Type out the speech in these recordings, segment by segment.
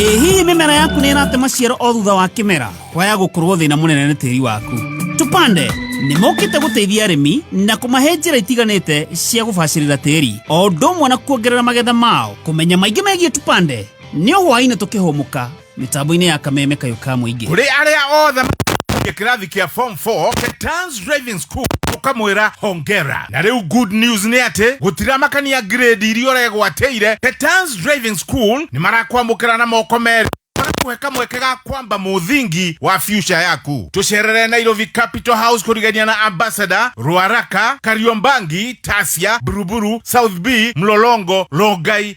ĩ hihi mĩmera yaku nĩ ĩrate maciaro o thutha wa kĩmera kwaya gũkorwo thĩna mũnene nĩ tĩri waku tũpande nĩ mokĩte gũteithia arĩmi na kũmahe njĩra itiganĩte cia gũbacĩrĩra tĩri o ũndũ ũmwe na kuongerera magetha mao kũmenya maingĩ megiĩ tũpande nĩ o hwaĩ-inĩ tũkĩhũmũka mitambo-inĩ ya kameme kayo ka mũingĩ kũrĩ arĩa othe makinyĩtie kĩrathi kĩa form 4 Ketans driving school ũkamwĩra hongera na rĩu good news nĩ atĩ gũtiramakania grade iria ũregwatĩire Ketans driving school nĩ marakwamũkĩra na moko merĩ marakuhe kamweke ga kwamba mũthingi wa future yaku tũcerere nairobi capital house kũrigania na ambassador rwaraka kariombangi tasia buruburu south b mlolongo rongai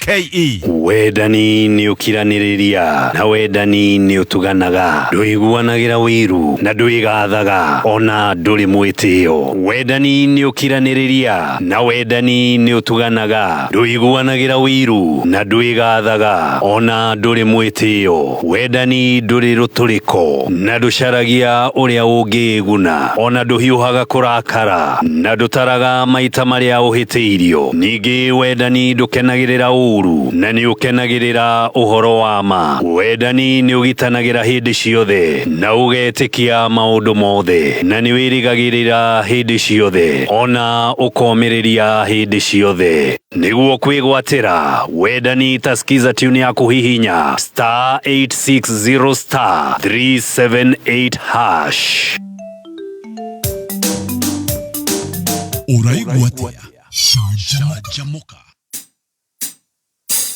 KE. wendani nĩ ũkiranĩrĩria na wendani nĩ ũtuganaga ndũiguanagĩra wĩiru na ndwĩgathaga ona ndũrĩ mwĩtĩo wendani nĩ ũkiranĩrĩria na wendani nĩ ũtuganaga ndũiguanagĩra wĩiru na ndwĩgathaga ona ndũrĩ mwĩtĩo Wendani ndũrĩ rũtũrĩko na ndũcaragia ũrĩa ũngĩĩguna, o na ndũhiũhaga kũrakara na ndũtaraga maita marĩa ũhĩtĩirio. Ningĩ wendani ndũkenagĩrĩra ũũru na nĩ ũkenagĩrĩra ũhoro wa ma. Wendani nĩ ũgitanagĩra hĩndĩ ciothe na ũgetĩkia maũndũ mothe, na nĩ wĩrĩgagĩrĩra hĩndĩ ciothe, o na ũkomĩrĩria hĩndĩ ciothe. nĩguo kwĩgwatĩra wendani ta skiza tune ya kũhihinya star 860 star 378 hash ũraigua atĩa canjamũka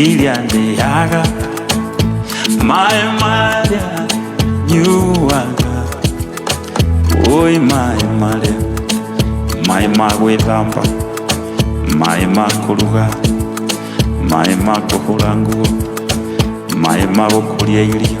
ilyandeyaga maĩ marĩa nyuaga ũĩ maĩ marĩa maĩ ma gwĩthamba maĩ ma kũruga maĩ ma kũhũra nguo maĩ ma gũkũria irio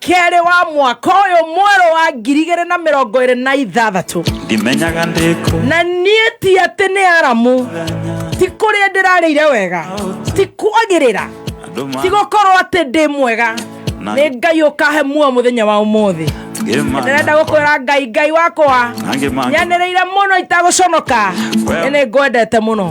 kerĩ wa mwaka ũyũ mwerũ wa ngiri igĩrĩ na mĩrongo ĩrĩ na ithathatũ ndimenyaga ndĩkũ na niĩ ti atĩ nĩ aramu ti kũrĩa ndĩrarĩire wega ti kwagĩrĩra andũ ti gũkorwo atĩ ndĩ mwega nĩ ngai ũkahe muo mũthenya wa ũmũthĩ ndĩrenda mangĩmana gũkwĩra ngai ngai wakwa Angĩ mangĩ- nyanĩrĩire mũno itagũconoka Well- nĩ ngwendete mũno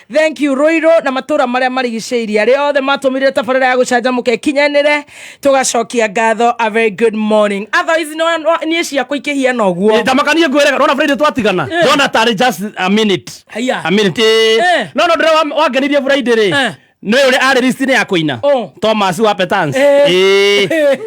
thank you ruiru na matura maria marigicĩirie arĩa othe matũmĩrire tabarĩra ya gũcanjamũka ĩkinyanĩre tũgacokia ngatho a very good morning otherwise no- no- niĩ ciakwa ikĩhiana ũguo ndamakanie ngwĩrega ndona friday twatigana ndona tarĩ just a minute Haiya. a minute eh. Eh. no no ndĩra wa- wangenirie friday rĩ Eh. nĩ ũrĩa arĩ list-inĩ ya kũina Oh. thomas wa petans Eh. Eh.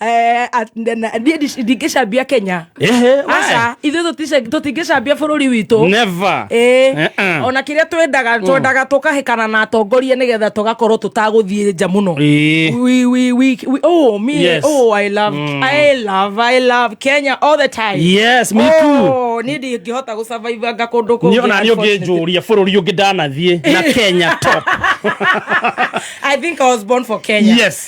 Eh, at- na- na- niĩ ndi- ndingĩcambia kenya Ehe, aca we. ithuĩ tũtice- tũtingĩcambia bũrũri witũ Never. Eh, Eh-eh. ona kä rä a twendaga twendaga tå kahäkana na atongoria nä getha tå gakorwo tå tagåthiä nja må no Eh. We- we- we- we- oh, me, Yes. oh, I love, Mm. I love, I love Kenya all the time. Yes, me too. Oh, nä ndingä hota gå cavaivanga kå ndå Niĩ ona niĩ ũngĩ njũria bũrũri ũngĩ ndanathiĩ na kenya top I think I was born for Kenya. Yes.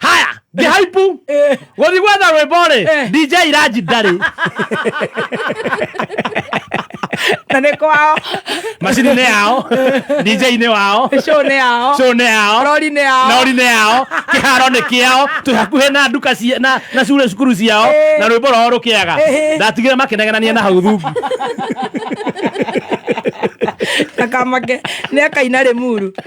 haya ngĩhaipu Eh. gũthi gwetha rwĩmbo rĩ Eh. dj iranji ndarĩ na nä kwao macini-inĩ yao dj-inĩ wao cå nä yao cũnĩ yao rori nä yao naũri-inĩ yao kĩharo nĩ kĩao twĩ hakuhĩ na nduka cia- na- na cure cukuru ciao Eh. na rwĩmbo rwao rũkĩaga Eh. ndatigire makĩnegenania na hau thungu akamake nä akaina rä muru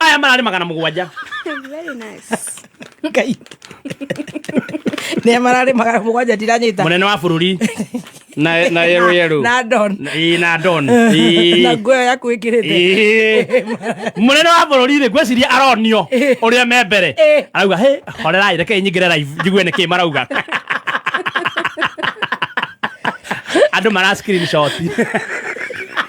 aya mararĩ magana mũgwanja Very nice. ngai nä mararä magana må gwanja ndiranyita mũnene wa bũrũri na na yerũ yerũ na don Na- ĩĩ, na don Ĩĩ. na nguo ĩyo yaku ä kä rä te Ĩĩ. mũnene wa bũrũri rĩ ngwĩciria aronio ũrĩa me mbere Ĩĩ. arauga hä horerai rekei nyingĩre raivu njigue nĩ kä marauga andå mara screenshot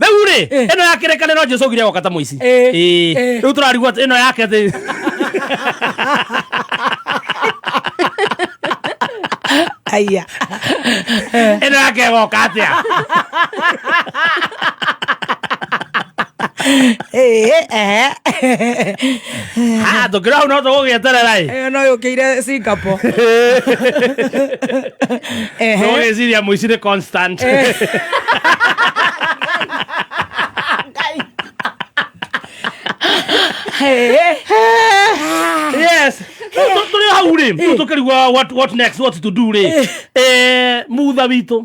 rĩu rĩ Eh. ĩno ya kĩrĩkanĩro jesu augire agoka ta mũici Eh. Ĩĩ. Eh. rĩu tũrarigwo atĩ ĩno yake atĩ aya ĩno yake ĩgoka atĩa Eh, eh. Ah, tũkĩra hau no tũgũgĩeterera ĩ Eh, no yũkĩire singapore Ehe. tũgũgĩciria mũici nĩ constant Eh. Eh, yes Rĩu tũ- tũrĩ hau rĩ rĩu tũkĩrigua what, what next what to do rĩ eh, mutha witũ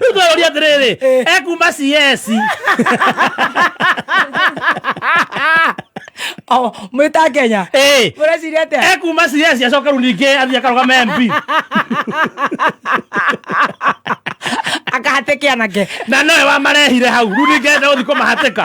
rĩu twerũria atĩrĩrĩ ekuma cs Oh, mwä ta kenya Ĩĩ. må reciria atä ekuma cs acoka rĩu ningĩ athiĩ akarũgama mp akahatä kä anake na nowe wamarehire hau rĩu ningĩ enda gũthiĩ kũmahatĩka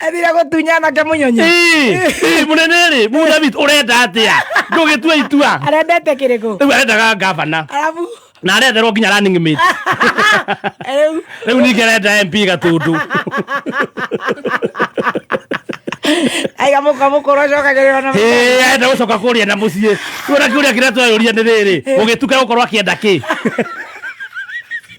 athire gũtunya anake mũnyonyi Ĩĩ, mũnene rĩ mũthamit ũrenda atĩa ndũgĩtua itua arendete kĩrĩkũ rĩu arendaga ngavana arabu na arenderwo nginya running mate rĩu rĩu ningĩ arenda mp gatundu aiga mũka mũkũrũ acokagĩrĩrwo na Ĩĩ, arenda gũcoka kũrĩa na mũciĩ kuona kĩũria kĩrĩa twayũria nĩ rĩrĩ ũgĩtuka gũkorwo akĩenda kĩ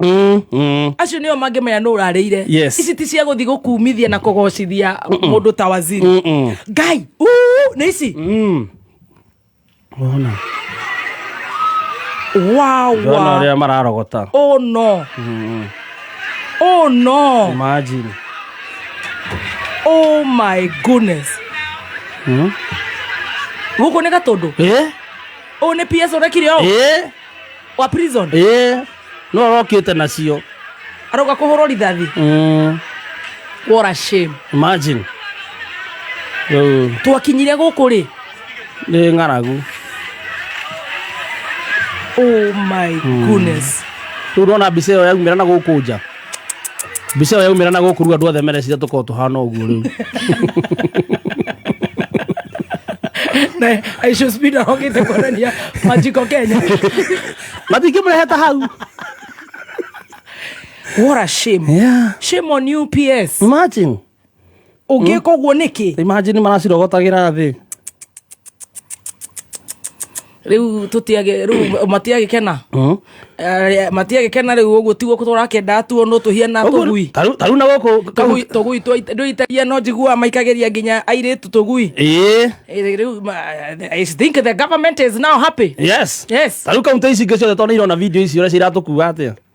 Mm, mm. acio nĩo mangĩmenya nũ ũrarĩire Yes. ici ti cia gũthiĩ gũkumithia na kũgocithia mũndũ ta waziri Mm, mm. ngai uu, nĩ ici Mm. Wona. Ndona wawa ũrĩa mararogota oh no oh no imagine oh my goodness Mm. gũkũ nĩ gatũndũ Eh? ũũ nĩ ps ũrekire ũũ Eh? wa prison ĩĩ no arokĩte nacio aroka kuhurwo rithathi Mm, what a shame imagine rĩu twakinyire guku ri nĩ ng'aragu oh my goodness rĩu ndona mbica ĩyo yaumĩra na gũkũ nja mbica ĩyo yaumĩra na gũkũ rĩu andũ othe merecira tũkorwo tũhana ũguo rĩu aicosbida ogite kuonania majiko kenya matingĩ mũreheta hau what a shame Yeah. shame on you ps imagine ũngĩka ũguo nĩkĩ imagine maracirogotagĩra thĩ riu tutiage riu matiage kena Mm. Eh, matiage kena riu uguo tiguo turakendaa tuonwo tuhiana tugui taru na gũkũ tugui tugui twa- ndũitagia no njiguaga maikagiria nginya airĩtu tugui ĩĩ Eh, riu ma- I think the government is now happy yes yes taru kauntä ici ingä ciothe tondå irona video ici å rä a ciratå kua atä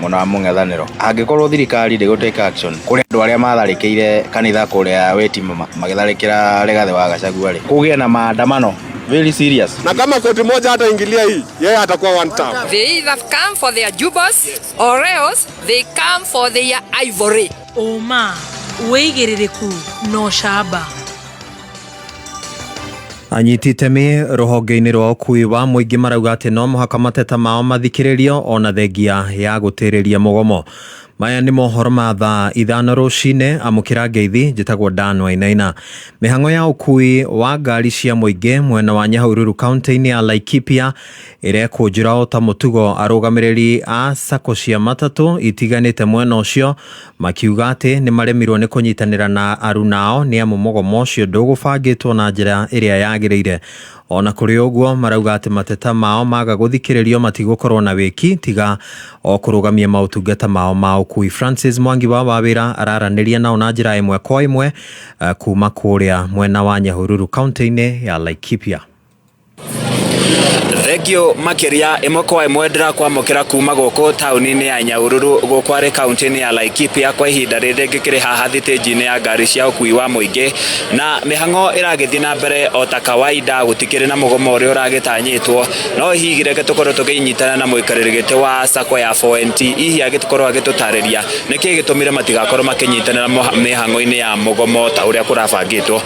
mwena wa mũng'ethanĩro angĩkorwo thirikari ndĩgũ take action kũrĩ andũ arĩa matharĩkĩire kanitha kũrĩa weti magĩtharĩkĩra Rigathĩ wa Gachagua rĩ kũgĩe na maandamano very serious na kama koti moja hata ingilia hii yeye atakuwa one term They either come for their jubas or else they come for their ivory. ũma wĩigĩrĩrĩku na ũcamba Anyiti itemi rũhonge-inĩ rwa ũkui wa mũingĩ marauga atĩ no mũhaka mateta mao mathikĩrĩrio ona thengia ya gũtĩrĩria mũgomo. Maya nĩ mohoro ma thaa ithano rũcinĩ, amũkĩra ngeithi, njĩtagwo Dan Wainaina. Mĩhang'o ya ũkui wa ngari cia mũingĩ mwena wa Nyahururu kaunti-inĩ ya Laikipia ĩrekũnjĩra o ta mũtugo arũgamĩrĩri a sacco cia matatũ itiganĩte mwena ũcio makiuga atĩ nĩ maremirwo nĩ kũnyitanĩra na arunao nĩ amu mũgomo ũcio ndũgũbangĩtwo na njĩra ĩrĩa yagĩrĩire. O na kũrĩ ũguo marauga atĩ mateta mao maga gũthikĩrĩrio matigũkorwo na wĩki tiga o kũrũgamia maũtungata mao ma ũkui. Francis Mwangi wa Wawĩra araranĩria nao na njĩra ĩmwe kwa ĩmwe eh, kuma kũrĩa mwena wa Nyahururu kaunti-inĩ ya Laikipia. Thengio makĩria ĩmwe kwa ĩmwe ndĩrakwamũkĩra kuma gũkũ taũni-inĩ ya Nyahururu gũkũ arĩ kaũntĩ-inĩ ya Laikipia kwa ihinda rĩrĩ ngĩkĩrĩ haha thitĩnji-inĩ ya ngari cia ũkui wa mũingĩ na mĩhang'o ĩragĩthiĩ na mbere o ta kawaida gũtikĩrĩ na mũgomo ũrĩa ũragĩtanyĩtwo no hihi reke tũkorwo tũkĩnyitana na mũikarĩri gĩtĩ wa sacco ya 4NT hihi agĩkorwo agĩtũtarĩria nĩkĩ gĩtũmire matigakorwo makĩnyitanĩra mĩhang'o-inĩ ya mũgomo ta ũrĩa kũrabangĩtwo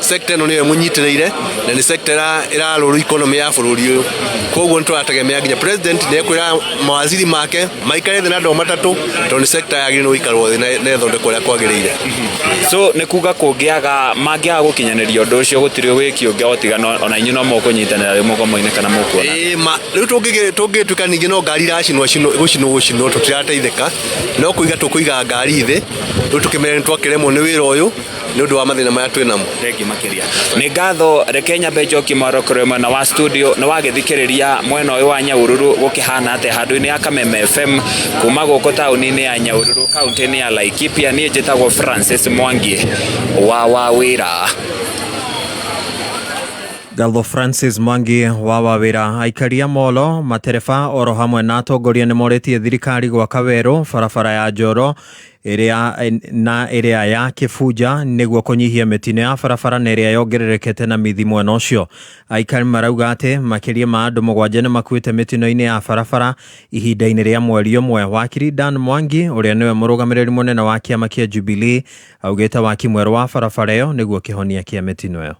Sekta ĩno nĩyo ĩmũnyitĩrĩire na nĩ sekta ĩrarũrũ ikonomĩ ya bũrũri ũyũ koguo nĩ tũrategemea nginya president nĩ ekwĩra mawaziri make maikare thĩ na andũ matatũ tondũ nĩ sekta yagĩrĩirwo gũikarwo thĩ na ĩthondekwo ũrĩa kwagĩrĩire so nĩ kuga kũngĩaga mangĩaga gũkinyanĩria ũndũ ũcio gũtirĩ wĩki ũngĩ otigana ona inyuĩ no mũkũnyitanĩra rĩu mũgomo-inĩ kana mũkuona rĩu tũngĩtuĩka ningĩ no ngari iracinwo gũcinwo gũcinwo tũtirateithĩka no kũiga tũkũiga ngari thĩ rĩu tũkĩmenya nĩ twakĩremwo nĩ wĩra ũyũ nä å ndå wa mathä na maya twä namo thengi makiria nä ngatho reke nyambe njoki marokore mwena wa studio na wagithikiriria mwena uyu wa nyaururu gukihana ate handu-ini ya kameme fm kuma guku tauni-ini ya nyaururu kaunti-ini ya laikipia nie njitagwo francis mwangi wa wa wira Ngatho Francis Mwangi wa Wawira aikari a Molo matereba oro hamwe na atongoria nĩ morĩtie thirikari gwaka werũ barabara ya Njoro ĩrĩa na ĩrĩa ya kĩbunja nĩguo kũnyihia mĩtino ya barabara na ĩrĩa yongererekete na mithi mwena ũcio aikari marauga atĩ makĩria ma andũ mũgwanja nĩ makuĩte mĩtino-inĩ ya barabara ihinda-inĩ rĩa mweri ũmwe wakiri Dan Mwangi ũrĩa nĩwe mũrũgamĩrĩri mũnene wa kĩama kĩa Jubilee augĩte waki mwerũ wa barabara ĩyo nĩguo kĩhonia kĩa mĩtino ĩyo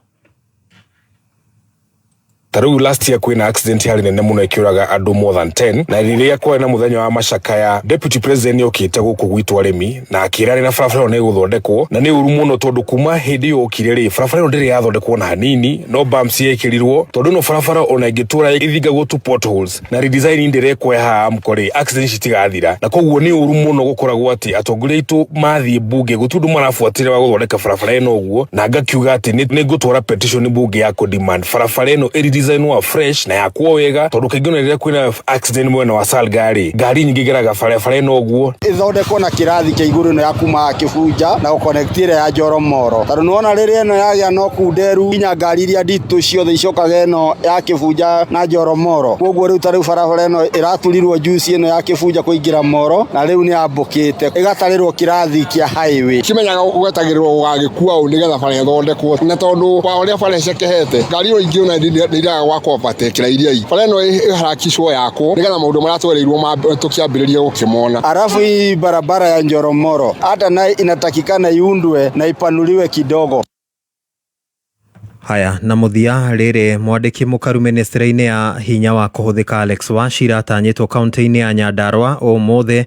ta rĩu last year kwĩna accident yarĩ nene mũno ĩkĩũraga andũ more than 10 na rĩrĩa kwarĩ na mũthenya wa macakaya deputy president nĩokĩte gũkũ gwitũ arĩmi na akĩra rĩna barabara ĩyo nĩgũthondekwo na nĩ ũru mũno tondũ kuma hĩndĩ ĩyo okire rĩ barabara ĩyo ndĩrĩ yathondekwo na hanini no bumps yekĩrirwo tondũ ĩno barabara ona ĩngĩtũra ĩthingagwo tu potholes na redesign nĩ ndĩrekwo haha amko rĩ accident citigathira na koguo nĩ ũru mũno gũkoragwo atĩ atongoria aitũ mathiĩ bunge gũtirĩ ũndũ marabuatĩrĩra wa gũthondeka barabara ĩno ũguo na ngakiuga atĩ nĩ nĩ ngũtwara petition bunge ya kũ demand barabara ĩno ĩ redesign wa fresh na yakwo wega tondũ kaingĩ ona rĩrĩa kwĩna accident mwena wa Salga rĩ ngari nyingĩ igeraga barabara ĩno ũguo ithondekwo na kĩrathi kĩa igũrũ ĩno ya kuma kĩbunja na gũkonekti ĩrĩa ya njoro moro tondũ nĩwona rĩrĩa ĩno yagĩa no kuu nderu nginya ngari iria nditũ ciothe icokaga ĩno ya kĩbunja na Njoro Moro koguo rĩu ta rĩu barabara ĩno ĩraturirwo njuici ĩno ya Kĩbunja kũingĩra Moro na rĩu nĩ ambũkĩte ĩgatarĩrwo kĩrathi kĩa highway. Kimenyaga gwetagĩrĩrwo gũgagĩkua ũũ nĩgetha bara ĩthondekwo na tondũ wa ũrĩa bara ĩcekehete ngari o ingĩ ona nĩ iraga gwaka overtake rairia bara ĩno ĩharakicwo yakwo nĩgetha maũndũ marĩa twereirwo tũkĩambĩrĩria gũkĩmona. Alafu hii barabara ya Njoro Moro hata nayo inatakikana iundwe na ipanuliwe kidogo. Haya, na mũthia rĩrĩ mwandĩki mũkaru mĩnĩstĩrĩ-inĩ ya hinya wa kũhũthĩka Alex Wachira atanyĩtwo kaunti-inĩ ya Nyandarũa ũmũthĩ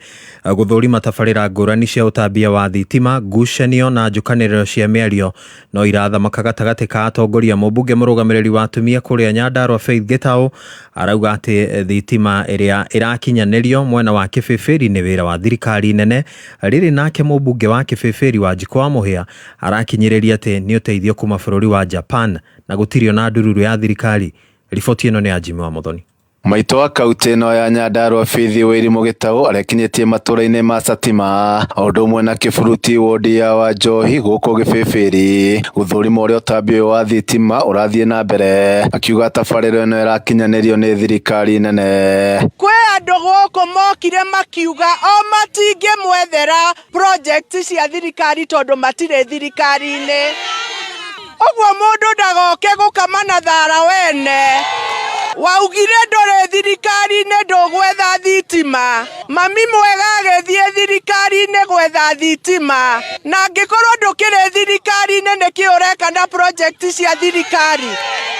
gũthũrima tabarĩra ngũrani cia ũtambia wa thitima, ngucanio na njũkanĩrĩro cia mĩario no irathamaka gatagatĩ ka atongoria. Mũmbunge mũrũgamĩrĩri wa atumia kũrĩa Nyandarũa Faith Gĩtaũ arauga atĩ thitima ĩrĩa ĩrakinyanĩrio mwena wa Kĩbĩbĩri nĩ wĩra wa thirikari nene. Rĩrĩ nake mũmbunge wa Kĩbĩbĩri Wanjikũ wa Mũhĩa Arakinyĩrĩria atĩ nĩ ũteithio kuma bũrũri wa Japan na gũtirĩ ona ndururu ya thirikari. Riboti ĩno nĩ ya Jimmy Wamuthoni. Maitũ wa kautĩ ĩno ya Nyandarua Bithi Wairimũ Gĩtaũ arekinyĩtie matũra-inĩ ma Satima o ũndũ ũmwe na Kĩburuti wondi ya Wanjohi gũkũ Gĩbĩbĩri gũthũrima ũrĩa ũtambi ũyũ wa thitima ũrathiĩ na mbere akiuga tabarĩra ĩno ĩrakinyanĩrio nĩ thirikari nene. Kwĩ andũ gũkũ mokire makiuga o matingĩmwethera project cia thirikari tondũ matirĩ thirikari-inĩ ũguo mũndũ ndagoke gũkama na thara wene waugire ndũrĩ thirikari-inĩ ndũgwetha thitima mami mwega agĩthiĩ thirikari-inĩ gwetha thitima na angĩkorwo ndũkĩrĩ thirikari-inĩ nĩkĩ ũreka na project cia thirikari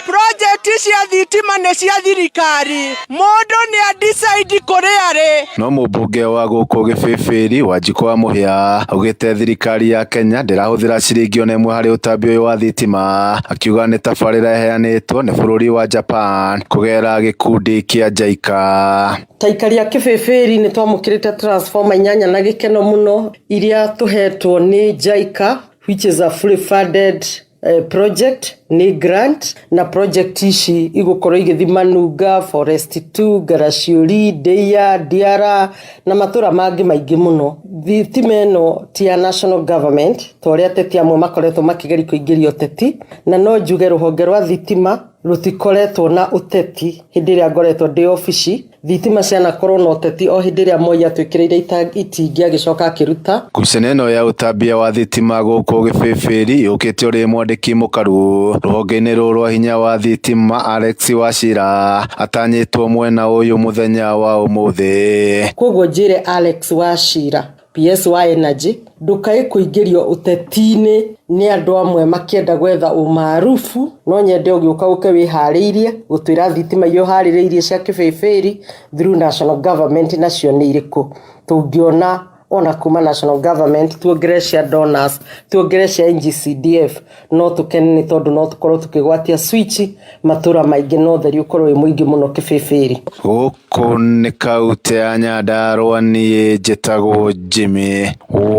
project cia thitima nĩ cia thirikari Mũndũ nĩ a decide kũrĩa arĩ. No mũmbunge wa gũkũ Gĩbĩbĩri, Wanjikũ wa Mũhĩa, augĩte thirikari ya Kenya ndĩrahũthĩra ciringi ona ĩmwe harĩ ũtambi ũyũ wa thitima, akiuga nĩ tabarĩra ĩheanĩtwo nĩ bũrũri wa Japan kũgerera gĩkundi kĩa JICA. Ta aikari a Kĩbĩbĩri nĩ twamũkĩrĩte transformer inyanya na gĩkeno mũno iria tũhetwo nĩ JICA which is a fully funded eh, project ni grant na project ici igũkorwo igĩthi manunga forest 2 garaciuri ndeia ndiara na matũra mangĩ maingĩ mũno thitima ĩno ti ya national government ta ũrĩa ateti amwe makoretwo makĩgeria kũingĩria ũteti na no njuge rũhonge rwa thitima rũtikoretwo na ũteti hĩndĩ ĩrĩa ngoretwo ndĩ obici Thitima cianakorwo na ũteti o hĩndĩ ĩrĩa Moi atwĩkĩrĩire itingi agĩcoka akĩruta. Ngucanio ĩno ya ũtambia wa thitima gũkũ Gĩbĩbĩri yũkĩte ũrĩ mwandĩki mũkaru rũhonge-inĩ rũrũ rwa hinya wa thitima Alex Wachira atanyĩtwo mwena ũyũ mũthenya wa ũmũthĩ. Kwoguo njĩre Alex Wachira PSY Energy ndũkae kũingĩrio ũteti-inĩ nĩ andũ amwe makĩenda gwetha ũmaarufu, no nyende ũgĩũka ũke wĩharĩirie gũtwĩra thitima iria ũharĩrĩirie cia kĩbĩbĩri through national government nacio nĩ irĩkũ, tũngĩona ona kuma national government tuongerere cia donors, tuongerere cia NGCDF. no tũkene nĩ tondũ no tũkorwo tũkĩgwatia switch matũra maingĩ na ũtheri ũkorwo wĩ mũingĩ mũno kĩbĩbĩrĩ gũkũ nĩ kautĩ ya nyandarũa niĩ njĩtagwo jimmy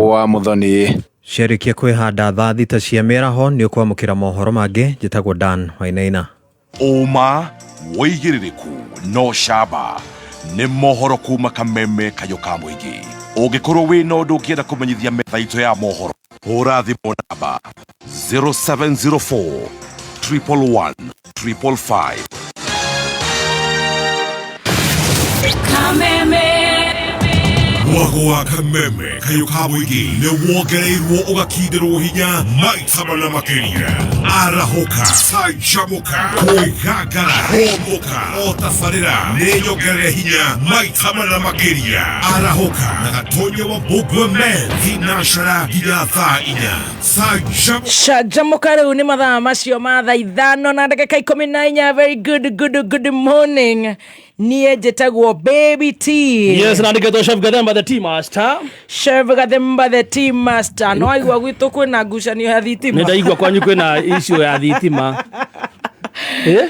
wa mũthoni Ciarĩkia kwĩhanda thaa thita cia mĩaraho nĩ ũkwamũkĩra mohoro mangĩ njĩtagwo Dan Wainaina. ũma woigĩrĩrĩku no camba nĩ mohoro kuma kameme kayo ka mũingĩ ũngĩkorwo wĩ na ũndũ ũngĩenda kũmenyithia metha itũ ya mohoro hũra thimũ namba 0704 111 555 mwago wa kameme kayo ka boigi nä wongereirwo å gakinä rwo hinya maita mana makä arahoka canjamũka kwĩgangara hũmũka o tabarĩra nĩ nyongerere hinya maita mana makĩria arahoka na gatonye wa mbũngwe men thinacera nginya thaa inya Shajamuka rĩu nĩ mathaa macio ma thaa ithano na ndagĩka ikũmi na inya very good good good morning niĩ njĩtagwo baby t Yes, na ndiketwo Chef Gathemba the tea master. chef gathemba the tea master no aigua gwitũ kwĩna ngucanio ya thitima Nĩ ndaigua kwanyu kwĩna issue ya thitima. Eh?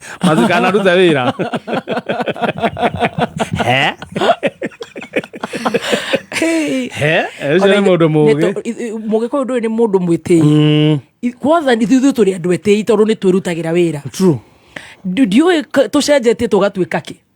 Mas o cara não deve virar. É? É? É já é modo moge. Moge kwa ndu ni mundu mwitei. Mm. Kwanza ni ithuĩ tũrĩ andũ etei tondũ nĩ twĩrutagĩra wĩra. True. Ndiũĩ tũcenjetie tũgatuĩka kĩ?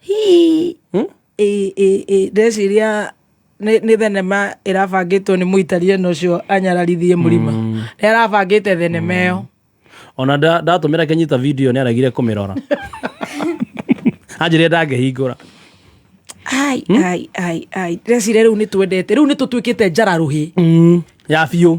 Hii. Hmm? Ĩ- ĩ- ĩ, ndeciria nĩ nĩ thenema ĩrabangĩtwo nĩ mũitari ĩno ũcio anyararithie mũrima nĩ arabangĩte thenema ĩyo ona nda- ndatũmĩra kĩnyita video nĩ aregire kũmĩrora anjĩrire ndangĩhingũra ai ai ai ai ndĩreciria rĩu nĩ twendete rĩu nĩ tũtuĩkĩte njararuhĩ ya biũ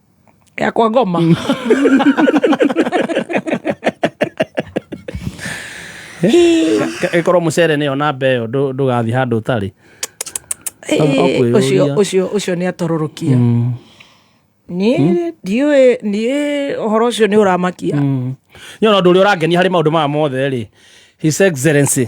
ya kwa ngoma ĩkorwo mũcere nĩyo namba ĩyo ndũ- ndũgathiĩ handũ ũtarĩ Ĩĩ, Ũkwĩyũria. ũcio- ũcio ũcio nĩ atororokia niĩ ndiũĩ niĩ ũhoro ũcio nĩ ũramakia nyona ũndå å rä a å rangenia harä maå ndå maya mothe rä his excellency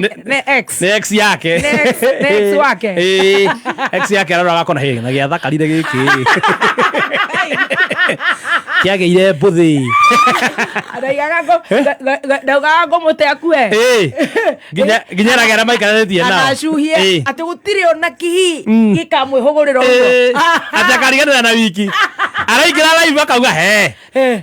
ne, ne ex ne ex yake ne ex ne ex wake eh ex yake arora gakona he na gya thakarire giki kiage ire mbuthi araigaga ngo ndaugaga ngo mute akue eh ginya ginya na gera maikara tie na anacuhie ati gutire ona kihi mm. gikamwihugurira uguo eh. ati akarigana na wiki araikira live akauga he eh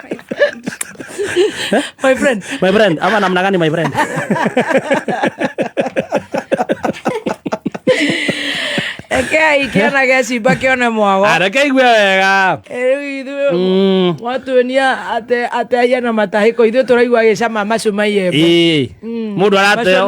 my friend my friend ama namna gani my friend rekei kĩana gecimba kĩone mwago areke igue wega rĩu ithuĩ mm. mwatuonia ate ahiana matahĩko ithuĩ tũraigua gĩcama macuma iembe mm. mũndũ arateo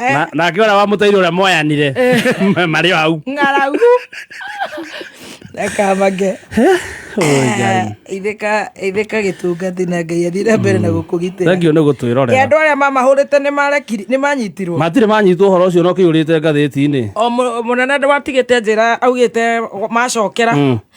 Eh. Na- nake ũrĩa wamũteire ũrĩa moyanire marĩ o hau ng'aragu reka mage ithĩka ithĩka gĩtungati na ngai athire mbere na gũkũgitĩra thengio nĩ Ĩ, gũtwĩrorera andå arä a mamahårä nä marekiri nä manyitirwo matirĩ manyitwo ũhoro ũcio no kĩihũrĩte ngathĩti-inĩ o må- mũnene ndwatigä te njä ra augä te macokera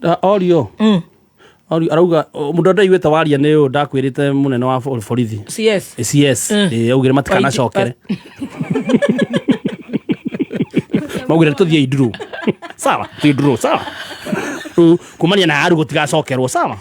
Da- orio Orio, arauga "O, mũndũ ndaiguĩte waria nĩ ũyũ ndakwĩrĩte mũnene wa bo- borithi cs cs Eh, augire matikanacokere maugire tũthiei nduru sawa tũthiĩ nduru sawa Rĩu kumania na aru gũtigacokerwo sawa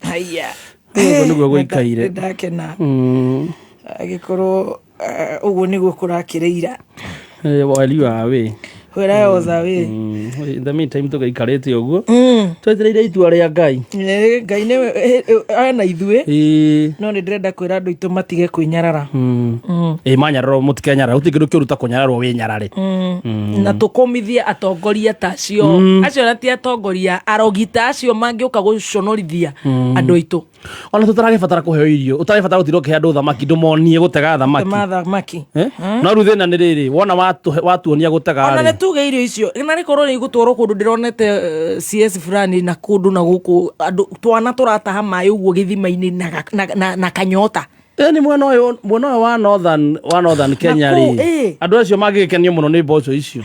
haiya Ũguo nĩguo gũikaire. ndakena Mm, agĩkorwo eh, ũguo nĩguo kũrakĩrĩira eh, wali wa wĩ wĩra otha wĩ Mm, in the meantime tũgĩikarĩte ũguo Mm. twetereire itua rĩa ngai Eh, ngai nĩ eh, eh, ana ithuĩ Ĩĩ, no nĩ ndĩrenda kwĩra andũ aitũ matige kwĩnyarara mm. Mm, Ĩĩ, manyararwo mũtikenyarara gũtirĩ kĩndũ kĩũru ta kũnyararwo wĩnyarare mm. na tũkũmithie atongoria ta acio mm. acio na ti atongoria arogita acio mangĩũka gũconorithia mm. andũ aitũ ona tũtaragibatara kũheo irio ũtaragibatara gũtirwo kĩhe andũ thamaki ndũmonie gũtega thamaki eh? no rĩu thĩna nĩ rĩrĩ wona watuonia gũtega ona nĩ tuge irio icio na nĩ korwo nĩ igũtwarwo kũndũ ndĩronete eh, cs fulani na kũndũ na gũkũ andũ twana tũrataha maĩ ũguo gĩthima-inĩ na kanyota ni mwena uyu mwena uyu wa northern wa northern kenya ri andu acio magigikenia muno ni mboco icio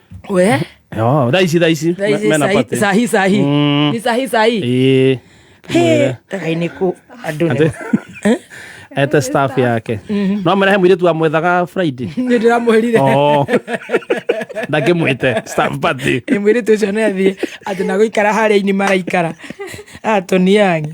we Yo, thaa ici thaa ici thaa ici, me- mena sahi- party. sahi sahi Mm. ni sahi sahi Ĩĩ. He, ai nĩ kũ andũ nĩ Ate- ete staff yake no mrehe mwiritu amwethaga friday nĩ ndĩramwĩrire Oh. ndakĩmwĩte staff party nĩ mwĩrĩtu ũcio nĩ athiĩ atĩ na gũikara harĩa ini maraikara atoniangi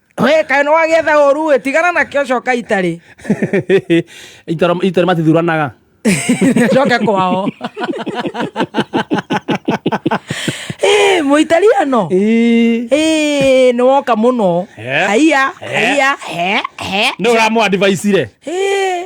we kaĩ nĩ wagĩetha ũru ĩ tigana nakĩo coka itarĩ itaro itaro matithuranaga coke kwao Eh, mũitaliano Ĩĩ. Eh, nĩ woka mũno Eh. haiya Eh. haiya he he nĩ ũramũ advice re Eh,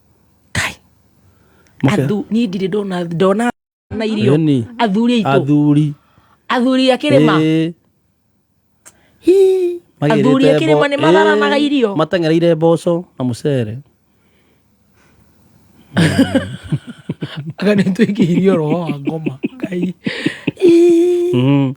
kai athu ni ndire ndona ndona na irio athuri itu athuri athuri akirima hi athuri akirima ni matharanaga irio matengereire mboco na mucere akanä twä kä irio roho wa ngoma ngai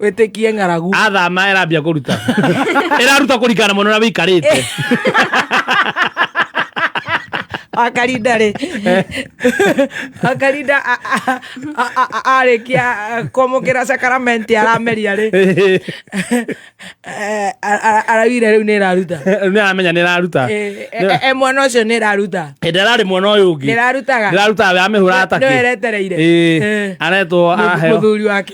wĩtĩkie ng'aragu athama ĩrambia kũruta ĩraruta kũringana na mwana ũrĩa wĩikarĩte akarinda rĩ akarinda a- a- a- a- a- arĩkia kwamũkĩra sakaramenti arameria rĩ Eh, a- a- araugire rĩu nĩ ĩraruta nĩ aramenya nĩ ĩraruta Eh, eh, eh, mwana ũcio nĩ ĩraruta hĩndĩ ararĩ mwana ũyũ ũngĩ Ndĩrarutaga. ndĩrarutaga amĩhũra Nĩ- atake nĩwe eretereire. Eh. aretwo Mũth- aheo mũthuri wake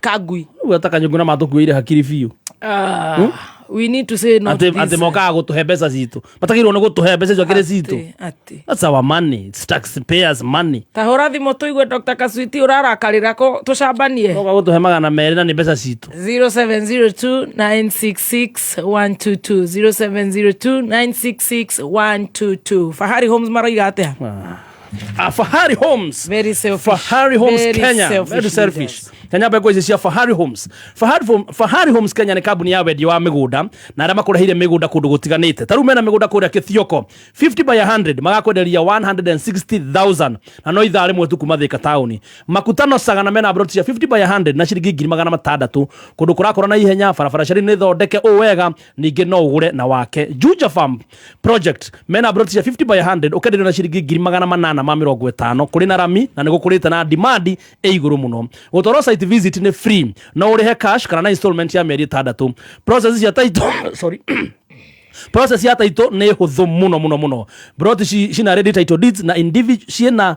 kangui Ũguo ta kanyũngũ na matũkuo irĩ hakiri biũ Ah, Hmm? we need to say no to atĩ this. atĩ mokaga gũtũhe mbeca citũ matagĩrĩirwo nĩ gũtũhe mbeca icio kĩrĩ citũ Atĩ, atĩ. That's our money. It's taxpayers money. tahũra thimå tå igue dr kasuiti å rarakarä kå tå cambanie Moka gũtũhe magana merĩ na nĩ mbeca citũ 0702966122 0702966122 fahari homes maroiga atä a Ah. Ah, Fahari Homes. Very selfish. Fahari Homes Very Kenya. Selfish Very selfish. Kenya bego ici cia Fahari Homes. Fahari, Hom- Fahari Homes Kenya nĩ kambuni ya wendia wa mĩgũnda na arĩa makũrehire mĩgũnda kũndũ gũtiganĩte. Ta rĩu mena mĩgũnda kũrĩa Kĩthioko 50 by 100 magakwenderia 160,000 na no ithaa rĩmwe tu kuma Thĩka taũni. Makutano Saga na mena broti cia 50 by 100 na ciringi ngiri magana matandatũ kũndũ kũrakũra na ihenya barabara ciarĩ nĩ thondeke ũũ wega ningĩ no ũgũre na wake Juja Farm project mena broti cia 50 by 100 ũkenderio na ciringi ngiri magana manana ma mĩrongo ĩtano kũrĩ na rami na nĩ gũkũrĩte na demand ĩ igũrũ mũno gũtwarwo site visit nĩ free no ũrĩhe cash kana na installment ya mĩeri ĩtandatũ process cia title sorry process ya title nä hå thå må no må no må no broti cina ready title deeds na individual ciena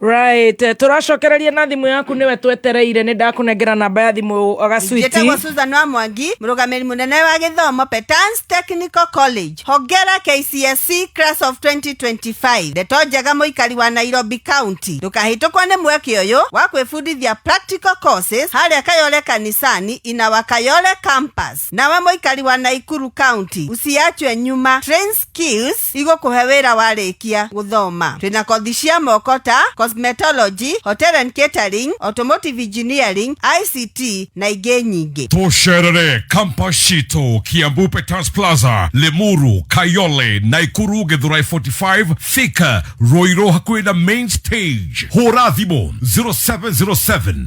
Right, turacokereria na thimu yaku niwe twetereire ni ndakunengera namba ya thimu gacwiti njĩtagwo Susan wa Mwangi mũrũgamĩrĩri mũnene wa gĩthomo Petans Technical College hongera KCSE class of 2025 ndeto njega mũikari wa Nairobi County ndũkahĩtũkwo nĩ mweke ũyũ wa kwĩbundithia practical courses harĩa Kayole kanisani in our Kayole campus nawe mũikari wa Naikuru County usiachwe nyuma trains skills igũkũhe wĩra warĩkia gũthoma. Twĩna kothi cia moko ta cosmetology, hotel and catering, automotive engineering, ICT na ingĩ nyingĩ. Tucerere kampa citũ Kiambu Peters Plaza, Limuru, Kayole, Naikuru, Githurai 45, Thika, Ruiru hakuhĩ na main stage. Hũra thimũ 0707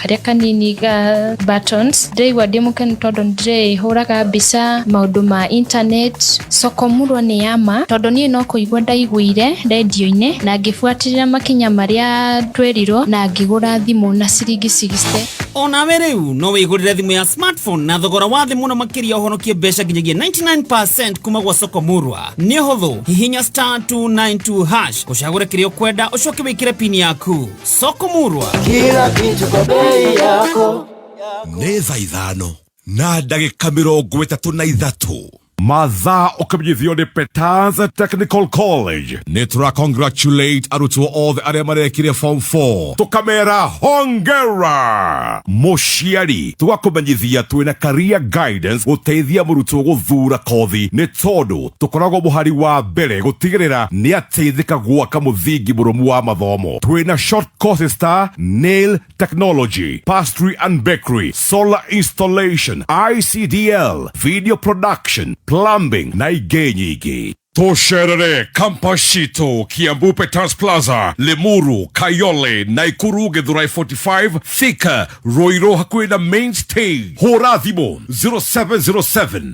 karĩa kanini ga buttons ndĩraigua ndĩ mũkenu tondũ ndĩrĩhũraga mbica maũndũ ma internet sokomurwa nĩ yama tondũ niĩ no kũigua ndaiguire rendio-inĩ na ngĩbuatĩrĩra makinya marĩa twerirwo na ngĩgũra thimũ na ciringi 60 onawe rĩu no wĩgũrĩre thimũ ya smartphone na thogora wa thĩ mũno makĩria ũhonokie mbeca nginyagia 99 kuma gwa sokomurwa nĩ ũhũthũ hihinya star 292 hash ũcagũre kĩrĩa ũkwenda ũcoke wĩkĩre pini yaku soko murwa kila kitu kwa bei yako nä tha ithano na ndagä ka mä rongo ä tatå na ithatå mathaa ũkimenyithio nĩ peters technical college nä tå ra congratulate arutwo othe arä a marekire form 4 tũkamera hongera mũciari tũgakũmenyithia twĩna career guidance gũteithia mũrutwo gũthura kothi nĩ tondũ Tũkoragwo mũhari wa mbere gũtigĩrĩra nĩ ateithĩka gwaka mũthingi mũrũmu wa mathomo. Twĩ na short courses ta Nail Technology, Pastry and Bakery, Solar Installation, ICDL, Video Production, Plumbing na ingĩ nyingĩ. Tũcerere campus citũ Kiambu Peters Plaza, Limuru, Kayole, Naikuru, Githurai 45, Thika, Ruiru hakuhĩ na main stage. Hũra thimũ 0707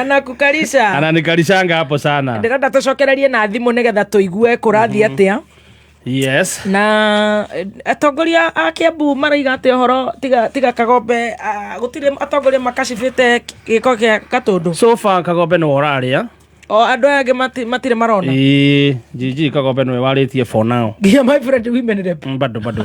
anakukalisha ananikalishanga hapo sana ndĩrenda tũcokererie na thimũ nĩgetha tũigue kũrathiĩ atĩa yes na eh, atongoria a kiambu maraiga atĩ ũhoro tiga, tiga kagombe ah, gũtirĩ atongoria makacibĩte gĩko gĩa katũndũ so far kagombe nĩ ũrarĩa o andũ aya angĩ mati- matirĩ marona ĩĩ jiji kagombe nĩwe warĩtie for now yeah, my friend women rep Mm, bado bado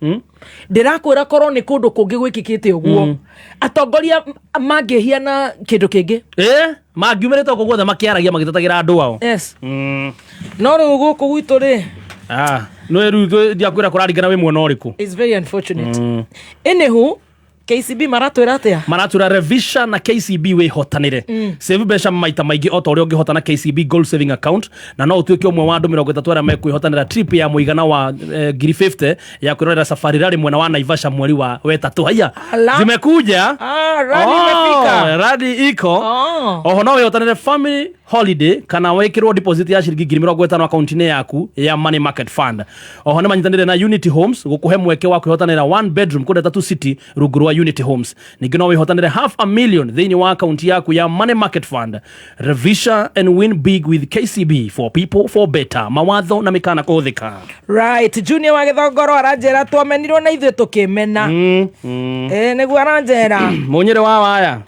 hmm? ndĩrakwĩra korwo nĩ kũndũ kũngĩ gwĩkĩkĩte ũguo hmm. atongoria mangĩhiana kĩndũ kĩngĩ eh? mangiumĩrĩte gũkũ guothe makĩaragia magĩtetagĩra andũ ao yes. mm. no rĩu gũkũ gwitũ rĩ ah, nä rä u ndiakwä ra kå rarigana wä mwena å rä kå mm. KCB maratwĩra atĩa maratwĩra revisha na kcb wĩhotanĩre mm. save mbeca maita maingĩ o ta ũrĩa ũngĩhota na kcb gold saving account na no ũtuĩke ũmwe wa andũ mĩrongo ĩtatũ arĩa mekwĩhotanĩra trip ya mũigana wa eh, ngiri 50 ya kwĩrorera safari rarĩ mwena wa naivasha mweri wa wetatũ haiya Ala. zimekuja Ah, rally Oh, imefika. rally iko Oh. oho no wĩhotanĩre family holiday kana wekirwo deposit ya ciringi ngiri mirongo itano akaunti-inĩ yaku ya money market fund oho nĩ manyitanĩire na unity homes gũkũhe mweke wa kwĩhotanĩra one bedroom kũndũ tatu city rungu rwa unity homes ningĩ no wĩhotanĩre half a million thĩinĩ wa akaunti yaku ya money market fund revisha and win big with kcb for people for better mawatho na mĩkana kũhũthĩka right junior wa gĩthongoro aranjĩra twamenirwo na ithuĩ tũkĩmena mm, mm. e, nĩguo aranjĩra mũnyĩrĩ wa waya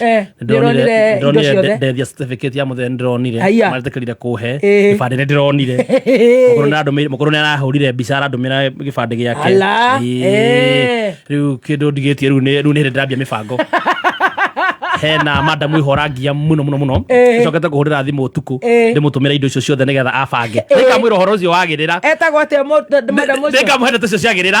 Eh, ndĩronire indo ndĩronire ciothe ndeath ya certificate ya mũthee ndĩronire Aya. maretekerire kũhe Eh. gĩbandĩ nĩ ndĩronire mũkũrũ nĩ arandũmĩire- mũkũrũ nĩ arahũrire mbica arandũmĩra gĩbandĩ gĩake Ala, Ĩĩ. eh. rĩu kĩndũ ndigĩtie rĩu nĩ rĩu nĩ hĩndĩ ndĩrambia mĩbango hena madamu ihorangia mũno mũno mũno Eh. cokete kũhũrĩra thimũ ũtukũ Eh. ndĩmũtũmĩra indo icio ciothe nĩgetha abange nĩkamwĩra ũhoro ũcio wagĩrĩra etagwo atĩa madamu ũcio nĩkamũhe ndeto icio ciagĩrĩra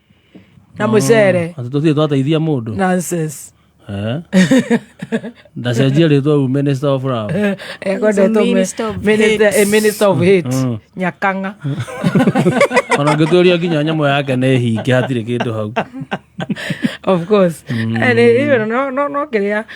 na mucere Atĩ tũtirĩ twateithia mũndũ nonsense Eh? ndacenjia rĩtwa u minister of love ekwendetwo minister of hate. minister of hate Mm. nyakanga ona ngĩtũria nginya nyamũ yake nĩ hinge hatirĩ kĩndũ hau of course Eh, nĩ- nĩ- no- no- no kĩrĩa